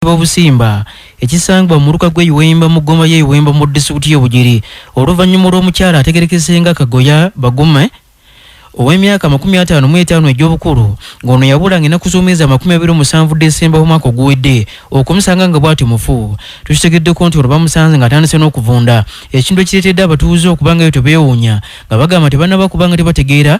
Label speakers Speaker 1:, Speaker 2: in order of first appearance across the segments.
Speaker 1: b'obusimba ekisangibwa mu muluka gw'e Iwemba mu ggoma y'e Iwemba mu disitulikiti y'e Bugiri oluvannyuma olw'omukyala ategerekese nga Kagoya Bagume ow'emyaka amakumi ataano mu etaano egy'obukulu ng'ono yabula ng'ennaku z'omwezi amakumi abiri omusanvu Desemba w'omwaka oguwedde okumusanga nga bw'atyo mufu tukitegeddeko nti olwo bamusanze ng'atandise n'okuvunda ekintu ekireetedde abatuuze okuba nga eyo tebeewuunya nga bagamba tebanaba kuba nga tebategeera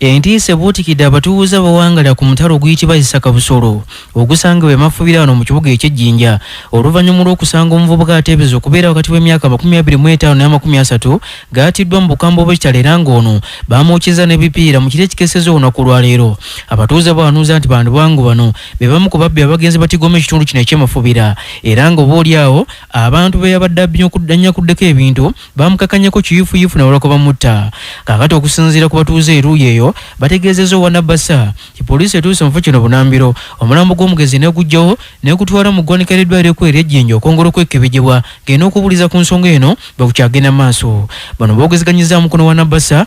Speaker 1: Entiisa ebuutikidde abatuuze abawangala ku mutala oguyitibwa Isaka Busolo ogusangibwa emafubira wano mu kibuga ekye Jinja oluvanyuma lw'okusanga omuvubuka ateebeza okubeera wakati w'emyaka amakumi abiri mu etaano n'amakumi asatu g'atiddwa mu bukambwe bw'ekitala era ng'ono baamwokyezza n'ebipiira mu kiro ekikeseza olunaku olwaleero. Abatuuze bawanuuza nti bandibango bano be bamu ku babbi abagenze batigoma ekitundu kino eky'emafubira era nga oba olyawo abantu beyabadde abnyakuddeko ebintu baamukakanyako kiyuufuyuufu nabalako bamutta kaakati okusinziira ku batuuze eruuyi eyo bategeezezza owa nabasa ti poliisi etuuse mu kifo kino bunambiro omulambo gw'omugenzi negujjawo negutwala mu ggwanika ly'eddwaliro ekkulu ery'ejjinja okwongera okwekebejebwa ng'eno okubuuliza ku nsonga eno bwekukyagenda maaso bano boogezeganyizza mukono wa nabasa